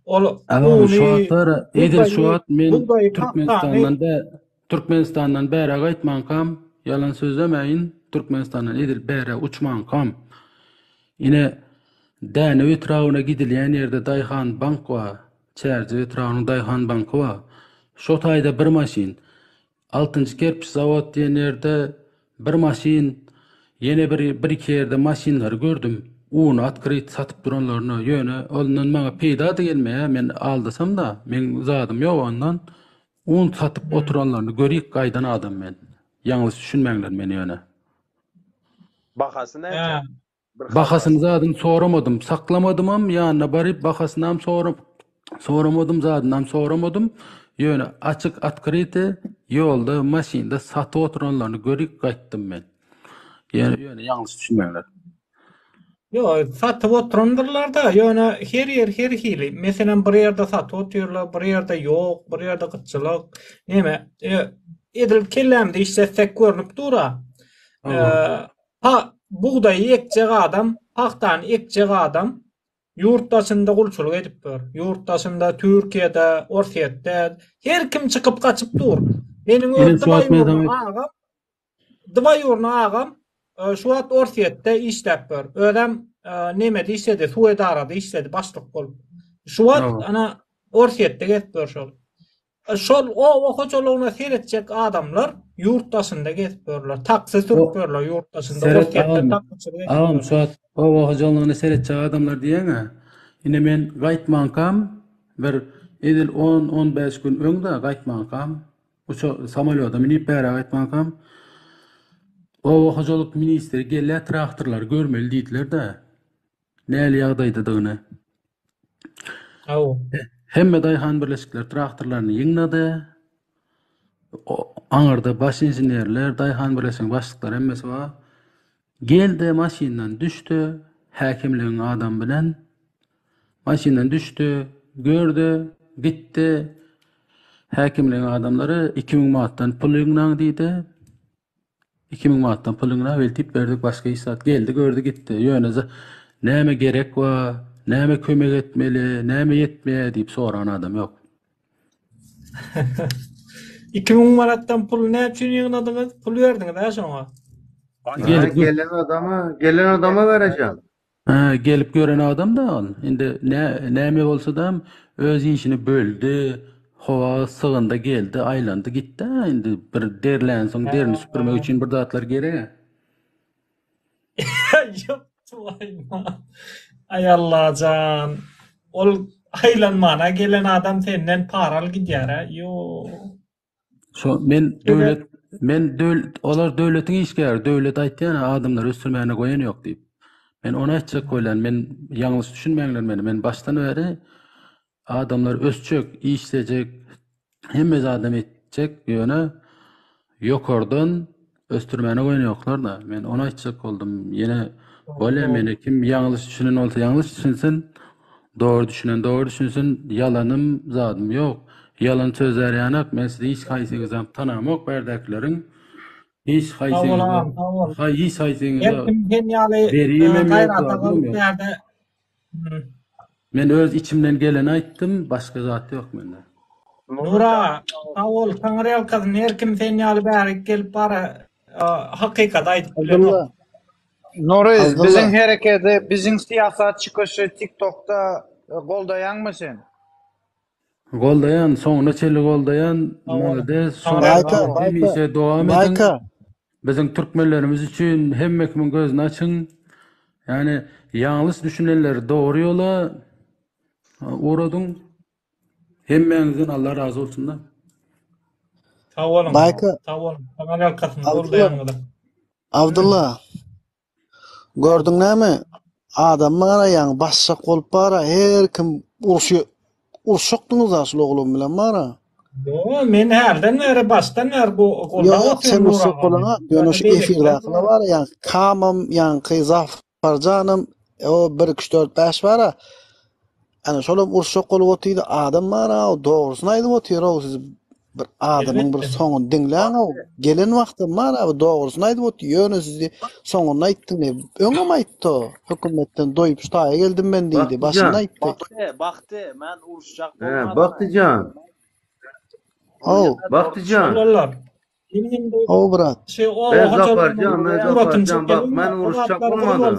Ol uny şu wagtlar edil şu wagt men Türkmenistandan bä Türkmenistandan bära gaýtmankam, ýalan sözlemäýin, Türkmenistandan edil bära uçmankam. Ine Dänew etrabyna gidilýän ýerde Daýhan bank bar. Çärjew etrabynyň Daýhan banky bar. Şo taýda bir maşyn. Altynjy kerpiç zawod diýen ýerde bir maşyn, ýene bir bir-iki ýerde maşynlary gördüm. Uny otkryt satyp duranlaryny, ýöne ondan maňa peýda-da gelmeýär, men aldasam-da, meň zadym ýok ondan. Un satyp oturanlaryny görip gaýdan adam men. Ýalňyş düşünmäňler meni ýöne. Bahasy näçe? Bahasyny zadyn soramadym, saklamadymam, ýanyna baryp bahasynam soramadym, zadynam soramadym, ýöne açyk otkryte ýolda maşynda satyp oturanlaryny görip gaýtdym men. Ýöne ýalňyş düşünmäňler. Ýok, satyp oturandyrlarda, ýöne her ýer her hili, meselem bir ýerde satyp otyrlar, bir ýerde ýok, bir ýerde gytçylyk, neme, edil kellämde işletsek görnüp dur-a. Bugdaýy ekjek adam, pagtany ekjek adam ýurt daşynda gulçulyk edip dur. Ýurt daşynda, Türkiýede, Orsýetde her kim çykyp gaçyp dur. Meniň öz dwaýurny agam, dwaýurny agam şu wagt Orsýetde işläp dur. Özem nemede işledi, suw edarada işledi başlyk bolup. Şu wagt ana Orsýetde gezip dur şol. Şol oba hojalygyna seretjek adamlar ýurt daşynda gezip ýörler. Taksi sürüp ýörler ýurt daşynda. Seret agam, agam şo oba hojalygyna seretjek adamlar diýeňä, ine men gaýtmankam bir edil on-on bäş gün öň-de gaýtmankam, uça samolýoda münip bära gaýtmankam, oba hojalyk ministri gelýär traktorlary görmeli diýdiler-de, nähili ýagdaýdadygyny Aw. Hemme daýhan birleşikleri traktorlaryny ýygnady. O, aňyrda baş inženerler, daýhan birleşiginiň başlyklary hemmesi bar. Geldi, maşyndan düşdi, häkimligiň adam bilen. Maşyndan düşdi, gördi, gitdi. Häkimligiň adamlary 2000 manatdan pul ýygnaň diýdi. Iki müň manatdan pulyňy na weltip berdik başga iş zat geldi gördi gitdi ýöne za näme gerek wa näme kömek etmeli näme ýetmeýä diýip soran adam ýok. Iki müň manatdan puly näme üçin ýygnadyňyz? Pul berdiňiz-ä şoňa. Gelip gelen adama gelen adama berejan. Hä, gelip gören adam dagyn. Indi nä, näme bolsadam öz işini böldi. Howa sygyndy, geldi, aýlandy, gitdi-ä. Indi bir derlänsoň, derini süpürmek üçin bir zatlar gerek-ä. Ýok, tüweleme. Aý Alla jan. Ol aýlanman-a gelen adam senden para alyp gidýär-ä. Ýok. Şo men döwlet men döwlet olar döwletiň işgäri, döwlet aýtýan adamlar ösdürmäne goýan ýok diýip. Men ony aýtjak bolýan, men ýalňyş düşünmäňler meni. Men başdan bäri adamlar ösjek, işlejek, hemme zadam etjek, ýöne ýokardan Ösdürmäne goýun ýoklar da. Men onu aýtjak boldum. Ýene bolýa meni kim ýalňyş düşünen bolsa ýalňyş düşünsin. Dogry düşünen dogry düşünsin. Ýalanym zadym ýok. Ýalan sözler ýanak. Men sizi hiç haýsyňyzy hem tanamok berdäkileriň. Hiç haýsyňyzy. Haý hiç haýsyňyzy. Kim hem ýaly gaýrata goýup ýerde. Men öz içimden geleni aýtdym başga zat ýok mende. Nur aga sag bol taňyrýalkasyn her kim sen ýaly bärik gelip bara hakykady aýdyp bilenok. Nury biziň herekedi biziň syýasatçy köşi tiktokda goldaýaňmy sen. Goldaýan soňuna çenli goldaýan malades hemişe dowam ediň biziň türkmenlerimiz üçin hemme kimin gözüni açyň ýani ýalňyş düşünenleri dogry ýola ugradyň hemmäňizden Allah razy bolsunda. Sag boluň sag boluň kanal arkasyny goldaýanyňyza. Abdylla. Gördüň näme, adammy garaýaň, basjak bolup bar-a, her kim urşy, uruşakdyňyz-a şul oglan bilen bar-a. Ýo, men hälden bäri, başdan bäri bu goldap otyryn Nury agany. Ýok, sen urşak bolana, ýöne şu efirdäkiler bar-a, ýaňky Kamam, ýaňky Zafarjanam, o bir, iki, üç, dört, bäş bar-a, Ana şolam urşak bolup otyr adam bar a dogrusyny aýdyp otyr o siz bir adamyň bir soňuny diňläň o gelen wagtym bar a dogrusyny aýdyp otyr ýöne sizi soňuny aýtdy ne öňem aýtdy o hökümetden doýup şu taýa geldim men diýdi başynda aýtdy Bakty bakty men uruşjak bolmadan. Baktyjan. O Baktyjan. Şolar. O brat. Şey o. Ben zaparjan men zaparjan bak men uruşjak bolmadan.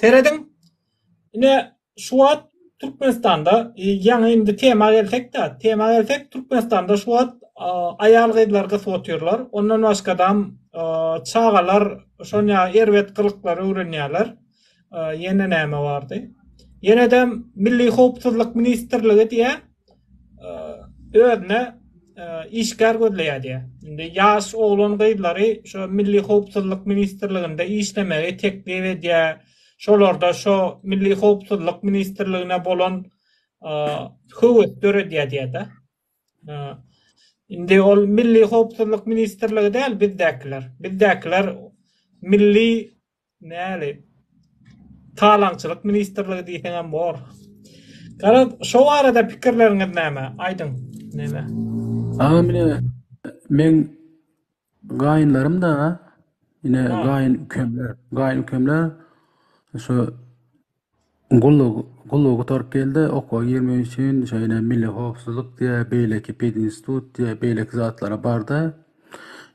Serediň. Ine şu wagt Türkmenistanda ýaňy indi tema gelsek-de, tema gelsek Türkmenistanda şu wagt aýal-gyzlar gysyp otyrlar. Ondan başgadam çagalar şonýa erbet gylyklary öwrenýärler. Ýene näme bardy? Ýenedem Milli howpsuzlyk ministrligi diýýär. özüne işgär gözleýär diýýär. Indi ýaş oglan-gyzlary şo Milli howpsuzlyk ministrliginde işlemegi teklip edýär. Şolarda şo Milli howpsuzlyk ministrligine bolan höwes döredýär diýýär-de. Indi ol Milli howpsuzlyk ministrligi däl bizdäkiler. Bizdäkiler Milli Näli? Talaňçylyk ministrligi diýseňem bor. Garaz, şo barada pikirleriňiz näme? Aýdyň, neme? Agam ine meň gaýynlarym da ine gaýyn ükemler, gaýyn ükemler şu Gulluk, gulluk gutaryp geldi, okuwa girmek üçin şeýle milli howpsuzlyk diýe, beýleki pedinstitut diýe, beýleki zatlara bardy.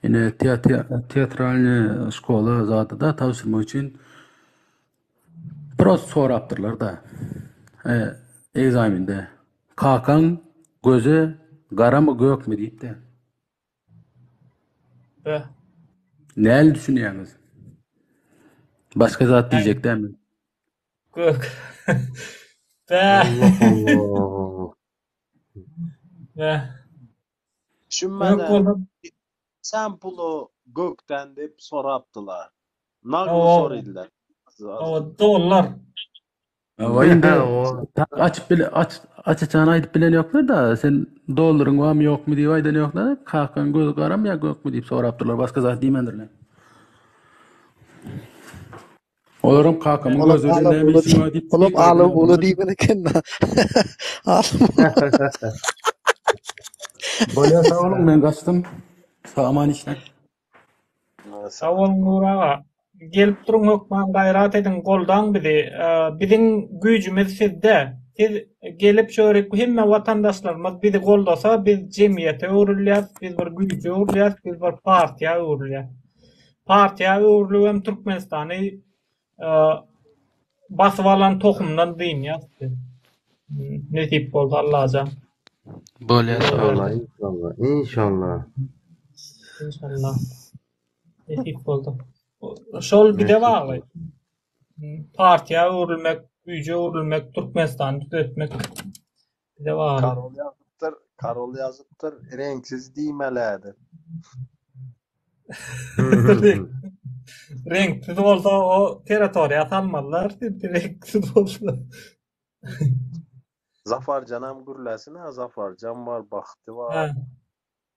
Ine te- te- teatralnyý şkola zady-da tabşyrmak üçin prost sorapdyrlar-da. E, ekzamende kakaň gözi garamy, gökmi diýip-de. Näli düşünýäňiz? Başga zat diýjek dämi? Gök. Sen puly gökden diýip sorapdylar. Nagly soraýdylar. Dollar. Aba indi açyp bile aç açyçan aýdyp bilen ýoklar da sen dollaryň barmy ýokmy diýip aýdan ýoklar. Kakaň göz garam ýa gökmi diýip sorapdyrlar. Başga zat diýmändirler. Olaram kakamyň Olam gözüne ala näme işiň bar diýip. Olam ala ula diýip eken. Bolýar sag boluň men gaçdym. Saman işler. Sag boluň Nury aga. Gelip duruň hökman gaýrat ediň goldaň bizi. Biziň güýjümiz sizde. Siz gelip şörik hemme watandaşlarymyz bizi goldasa biz jemgyýete öwrülýäs, biz bir güýje öwrülýäs, biz bir partiýa öwrülýäs. Partiýa öwrülibem Türkmenistany Basyp alan tohumdan dynýas biz. Nesip bolsa Allajan. Bolýa sagbolun. Inşallah, inşallah. Inşallah. Nesip bolsa. Şol bize bagly. Partiýa öwrülmek, güýje öwrülmek, Türkmenistany düzetmek. Bize bagly. Karol ýazypdyr, Karol ýazypdyr, reňksiz diýmelidi. Reňksiz bolsa o territoriýa salmalylar, çünki reňksiz bolsa. Zafarjanam gürläsin-ä, Zafarjan bar, Bahti bar.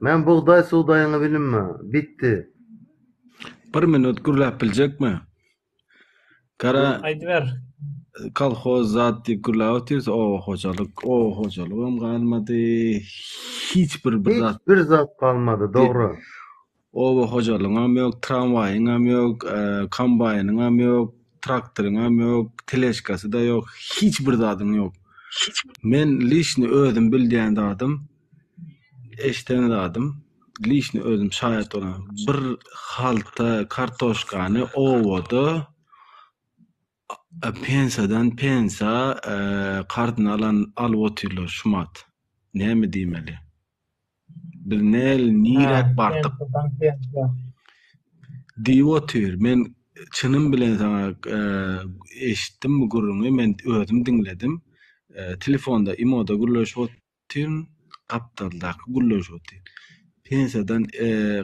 Men bugdaý sugdaýyňy bilinme. Bitdi. Bir minut gürläp biljekmi? Gara Aýdyber. kolhoz zat diýip gürläp otyrys, oba hojalyk, oba hojalygam galmady. Hiç bir bir zat. Hiç bir zat galmady, dogry. Oba hojalygyňam ýok, tramwaýyňam ýok, kombaýnyňam ýok, traktoryňam ýok, teležkasy-da ýok, hiç bir zadyň ýok. Men lişni özüm bildýän zadym, eşden zadym, lişni özüm şaýat bolan, bir halta kartoşkany obada, Pensadan pensa karzyny alan alyp otyrlar şumat näme diýmeli biz nel niräk bardyk diýip otyr men çynym bilen saňa eşitdim bu gürrüňi men özüm diňledim telefonda imoda gürleşip Tüm gapdaldaky gulluş otyr. Pensiýadan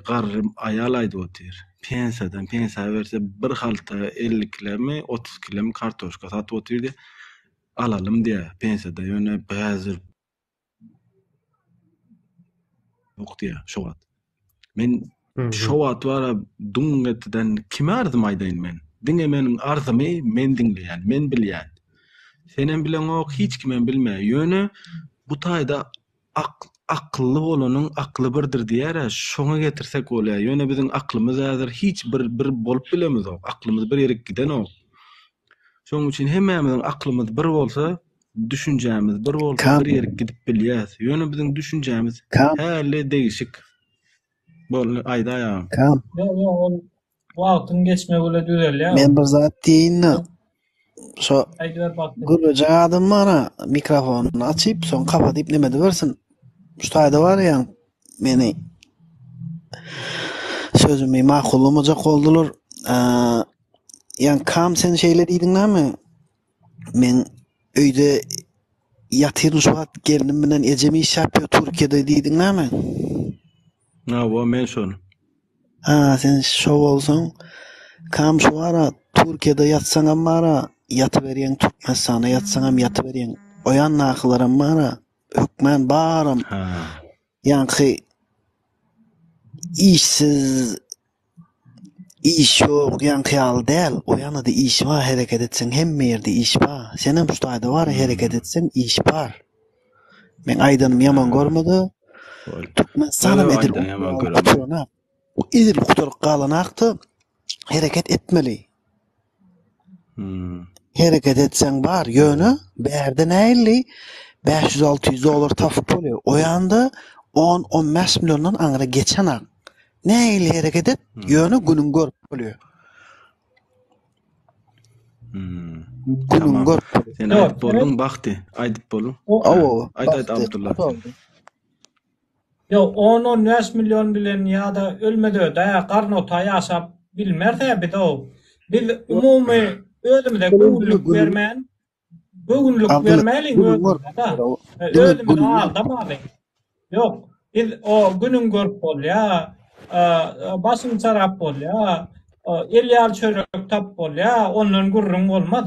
garry aýal aýdyp otyr. Pensiýadan, pensiýa berse bir halta elli kilemi, otuz kilemi kartoşka satyp otyrdy. Alalym diýýär. Pensiýada ýöne häzir ýok diýýär şu wagt. Men şo wagt bara dum etden kime arzymy aýdaýyn men? Diňe meniň arzymy men diňleýän, men bilýän. Senem bileňok, hiç kimem bilmeýär. Ýöne bu taýda ak akylly bolanyň akly birdir diýýär-ä, şoňa getirsek bolýar. Ýöne biziň aklymyz häzir hiç bir bir bolup bilemizok. Aklymyz bir ýerik gidenok. Şonuň üçin hemmämiziň aklymyz bir bolsa, düşünjämiz bir bolsa bir ýere gidip bilýäs. Ýöne biziň düşünjämiz häli degişik. Boldy, aýdaý agam. Kam. Ýok, ýok, ol wagtyň geçmegi bilen düzelýär. Men bir zat diýeýin-de. Şo gürlejek adam bar-a, mikrofonyny açyp, soň kapadyp näme edibersin. Şu taýda barýan meni sözümi makullamaja boldular. Ýa kam sen şeýle diýdiň näme? Men öýde ýatyryn şu wagt gelnim bilen ejem iş ýapýar Türkiýede diýdiň näme? Hawa men şol. Ha sen şo bolsaň kam şu ara Türkiýede ýatsaňam bara ýatyberýäň Türkmenistana ýatsaňam ýatyberýäň. Oýandakylaram bara hökmän baram. Ha. Ýaňky işsiz Iş ýok ýaňky ýaly däl o ýanada iş bar hereket etseň hemme ýerde iş bar senem şu taýda bara hereket etseň iş bar meň aýdanym ýaman görmede Türkmenistanam edil edil gutaryp galanakda hereket etmeli Hereket etseň bar ýöne bärde näilli bäş ýüz alty ýüz dollar tapyp bolýa oýanda on on bäş milliondan aňyra geçenak näilli hereket et ýöne günüň görüp bolýa. Günüň görüp bolýa. Sen aýdyp bolduň bagty aýdyp boluň. Aýt aýt Abdullah. Ýa on-on bäş million bilen ýa-da ölmez-öde, garnota ýaşap bilmeris-ä biz-ow. Biz umumy özümize göwünlik bermän, göwünlik bermäliň özümize-de. Özümizi aldamalyň. Ýok, biz o günüň görüp bolýar, başyň çarap bolýar, el ýal çörek tap bolýar, ondan gürrüň bolmaz.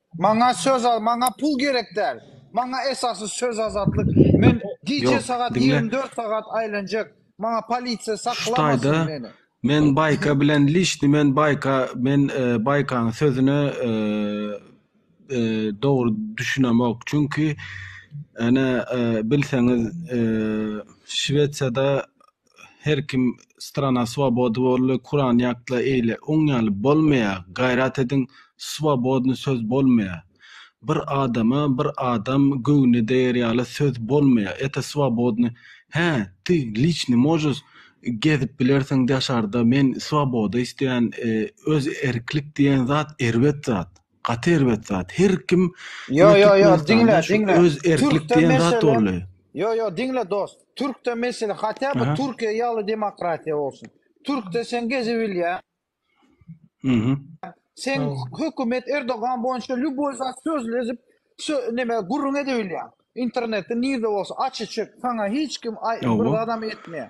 Maňa söz al, maňa pul gerek däl. Maňa esasy söz azatlyk. Men gije Ýok, sagat diňle. ýigrimi dört sagat aýlanjak. Maňa polisiýa Şutaýda saklamasyn meni. men Baýka bilen lişni men Baýka men e, Baýkaň sözüne e, e, dogry düşünemok. Çünki ene e, bilseňiz e, Şwesiýada Her kim strana swobody bolly kuran ýatla eýle oň ýaly bolmaýa gaýrat ediň swobodny söz bolmaýa bir adama bir adam göwni deýer ýaly söz bolmaýa eta swobodny hä ty liçny możus gezip bilersiň daşarda men swoboda isleýän öz erklik diýen zat erbet zat. Gaty erbet zat. Her kim Ýo ýo ýo diňle diňle. Öz erklik diýen zat boldy. Ýo ýo diňle dost. Türkde mesele hatda bu Türkiýe ýaly demokratiýa bolsun. Türkde sen gezi bilýä. Mhm. Sen hökümet Erdogan boýunça lýuboý zat sözlezip neme gürrüň edebilýä. Internetde nirde bolsa aç içip sana hiç kim bir adam etmeýä.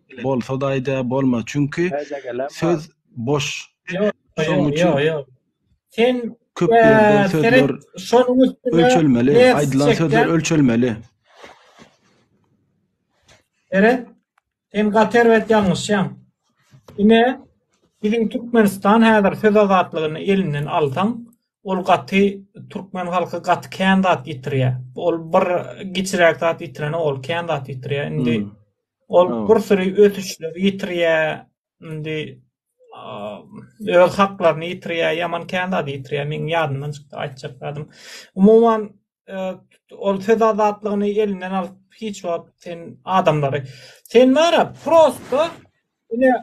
Bolsada aýda bolma çünki söz boş şoň üçin köp ýerde sözler ölçelmeli aýdylan sözler ölçelmeli. Seret sen gaty erbet ýalňyşýaň. Ine biziň Türkmenistan häzir söz azatlygyny elinden alsaň ol gaty Türkmen halky gaty kän zat ýitirýär. Ol bir giçiräk zat ýitirene ol kän zat ýitirýär. Indi Ol pursuri ösüşleri ýitirýär, indi öz haklaryny ýitirýär, ýaman kän zady ýitirýär, meň ýadymdan çykdy aýtjak zadym. Umuman, ol söz azatlygyny elinden alyp hiç wagt sen adamlary, sen bar-a prosto ine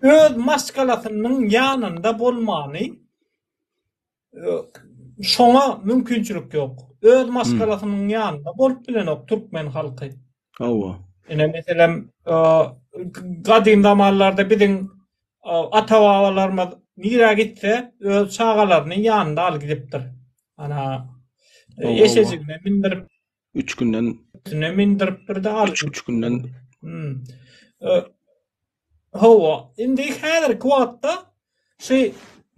öz maşgalasynyň ýanynda bolmany, Şoňa mümkinçilik ýok. Öz maşgalasynyň ýanynda bolup bilenok türkmen halky. Hawa. Ine meselem gadym zamanlarda biziň ata-babalarymyz nirä gitse öz çagalaryny ýanynda alyp gidipdir. Ana eşejigine mindirip Üç günden... Tüne mindirip bir de aç. Üç günden... Hmm. Hova, indi häzir kuatda şu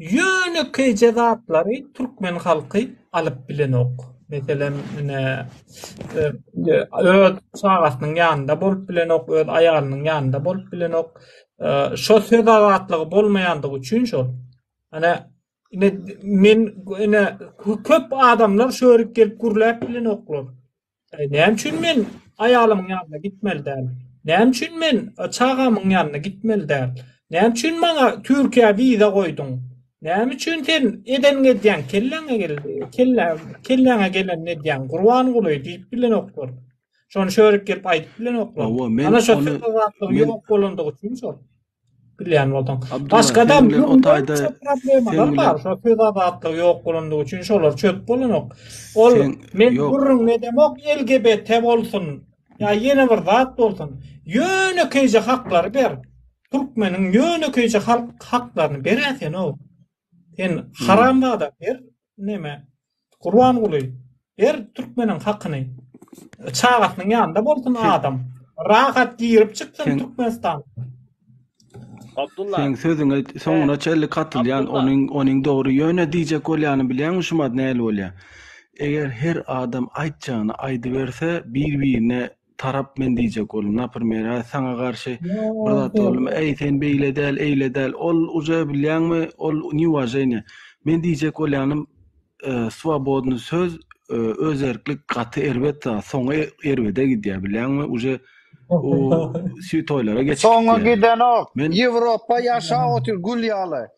ýöne keýje zatlary türkmen halky alyp bilenok. Meselem, ine, e, öz çagasynyň ýanynda bolup bilenok, öz aýalynyň ýanynda bolup bilenok. Şo söz azatlygy bolmaýandygy üçin şol. Ana, Ine, men ine köp adamlar şörik gelip gürläp bilenoklar. E, näme üçin men aýalymyň ýanyna gitmeli däl? Näme üçin men e, çagamyň ýanyna gitmeli däl? Näme üçin maňa Türkiýä wiza goýduň? Näme üçin sen edeniňi edýäň, kelläňe gel, kellä, kelläňe gelenini edýäň, Gurbanguly diýip bilenoklar. Şony şörik gelip aýdyp bilenoklar. Hawa, men Ana şo ony- söz azatlygy men- ýok bolandygy üçin şol. Bilýän bolsaň. Başga-da ýurtlarda problemler bar. Şo söz azatlygy ýok bolandygy üçin şolar çöp bolanok. Ol men gürrüň edemok LGBT bolsun. Ýa ýene bir zat bolsun. Ýönekeýje haklary ber. Türkmeniň ýönekeýje halk haklaryny beräýsene. Sen haram zada ber. Neme? Gurbanguly ber türkmeniň hakyny. Çagasynyň ýanynda bolsun adam. Rahat girip çyksyn Türkmenistan. Abdulla. Seň sözüňe soňuna çenli katylýan onuň onuň dogry ýöne diýjek bolýany bilýäňmi şumat näli bolýa eger her adam aýtjagyny aýdyberse bir birine tarap men diýjek boldum naprimýer hä saňa garşy bir zat boldumy äý sen beýle däl eýle däl ol uje bilýäňmi ol niuwaženiýe men diýjek bolýanym swobodnyý söz özerklik gaty erbet zat soňy erbede gidýär bilýäňmi uje u süýt toýlara geçip gidýär soňy gidenok ýewropa ýaşap otyr gül ýaly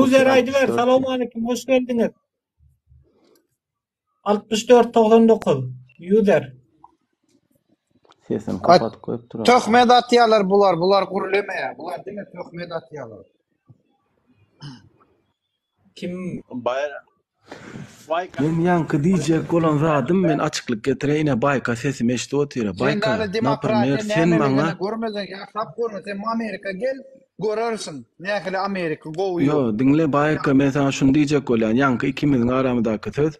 User aýdyber, salowmalikim, hoş geldiňiz. 6499 user. Sesini kapatyp goýupdyr. Töhmet atýarlar bular, bular gürlemeýär. Bular diňe töhmet atýarlar. Kim Baýra. Baýka. Men ýaňky diýjek bolan zadym men açyklyk getireýine baýka sesimi eşidip otyr Sen baýka dana demokratiýa naprmer sen maňa nämeligini görmedin ýatlap görme sen Amerika gel görersiň nähili Amerika gowy Ýo ýok. diňle baýka men saňa şuny diýjek bolýan ýaňky ikimiziň aramydaky söz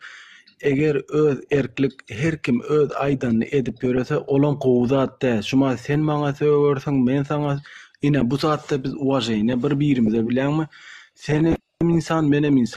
Eger öz erklik her kim öz aýdanyny edip ýörese olam gowy zat dä şuma sen maňa sögersiň men saňa ine bu zatda biz uwaženýa bir birimize bileňmi senem ynsan menem ynsan.